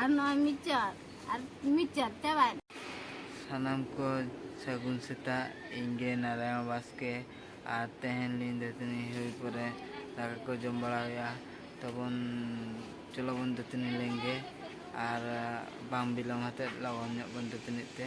ᱟᱨ ᱱᱚᱜᱼᱚᱭ ᱢᱤᱫ ᱪᱟᱨ ᱟᱨ ᱢᱤᱫ ᱪᱟᱨ ᱪᱟᱵᱟᱭ ᱥᱟᱱᱟᱢ ᱠᱚ ᱥᱟᱹᱜᱩᱱ ᱥᱮᱛᱟᱜ ᱤᱧ ᱜᱮ ᱱᱟᱨᱟᱭᱚᱱ ᱵᱟᱥᱠᱮ ᱟᱨ ᱛᱮᱦᱮᱧ ᱞᱤᱧ ᱫᱟᱹᱛᱟᱹᱱᱤ ᱦᱩᱭ ᱯᱚᱨᱮ ᱫᱟᱠᱟ ᱠᱚ ᱡᱚᱢ ᱵᱟᱲᱟ ᱦᱩᱭᱩᱜᱼᱟ ᱛᱚᱵᱚᱱ ᱪᱚᱞᱚ ᱵᱚᱱ ᱫᱟᱹᱛᱟᱹᱱᱤ ᱞᱮᱱᱜᱮ ᱟᱨ ᱵᱟᱝ ᱵᱤᱞᱚᱢ ᱦᱟᱛᱮᱫ ᱞᱚᱜᱚᱱ ᱧᱚᱜ ᱵᱚᱱ ᱫᱟᱹᱛᱟᱹᱱᱤᱜ ᱛᱮ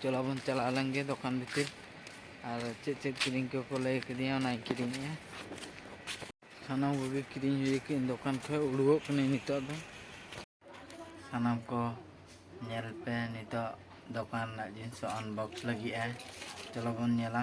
ᱪᱚᱞᱚ ᱵᱚᱱ ᱪᱟᱞᱟᱜ ᱟᱞᱟᱝ ᱜᱮ ᱫᱚᱠᱟᱱ ᱵᱷᱤᱛᱤᱨ ᱟᱨ ᱪᱮᱫ ᱪᱮᱫ ᱠᱤᱨᱤᱧ ᱠᱚᱠᱚ ᱞᱟᱹᱭ ᱠᱟᱫᱤᱧᱟ ᱚᱱᱟᱧ ᱠᱤᱨᱤᱧᱮᱜᱼᱟ ᱥᱟᱱᱟᱢ ᱠᱚᱜᱮ ᱠᱤᱨᱤᱧ ᱦᱩᱭ ᱠᱟᱹᱧ ᱫᱚᱠᱟᱱ ᱠᱷᱚᱡ ᱩᱰᱩᱠᱚᱜ ᱠᱟᱹᱱᱟᱹᱧ ᱱᱤᱛᱚᱜ ᱫᱚ ᱥᱟᱱᱟᱢ ᱠᱚ ᱧᱮᱞ ᱯᱮ ᱱᱤᱛᱚᱜ ᱫᱚᱠᱟᱱ ᱨᱮᱱᱟᱜ ᱡᱤᱱᱤᱥ ᱟᱱᱵᱚᱠᱥ ᱞᱟᱹᱜᱤᱫᱼᱟ ᱪᱚᱞᱚ ᱵᱚᱱ ᱧᱮᱞᱟ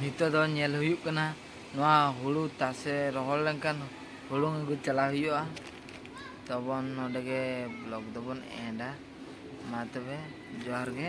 ᱱᱤᱛᱚᱜ ᱫᱚ ᱧᱮᱞ ᱦᱩᱭᱩᱜ ᱠᱟᱱᱟ ᱱᱚᱣᱟ ᱦᱩᱲᱩ ᱛᱟᱥᱮ ᱨᱚᱦᱚᱲ ᱞᱮᱱᱠᱷᱟᱱ ᱦᱩᱲᱩ ᱟᱹᱜᱩ ᱪᱟᱞᱟᱣ ᱦᱩᱭᱩᱜᱼᱟ ᱛᱚᱵᱚᱱ ᱱᱚᱰᱮ ᱜᱮ ᱵᱞᱚᱜ ᱫᱚᱵᱚᱱ ᱮᱱᱰᱟ ᱢᱟ ᱛᱚᱵᱮ ᱡᱚᱦᱟᱨ ᱜᱮ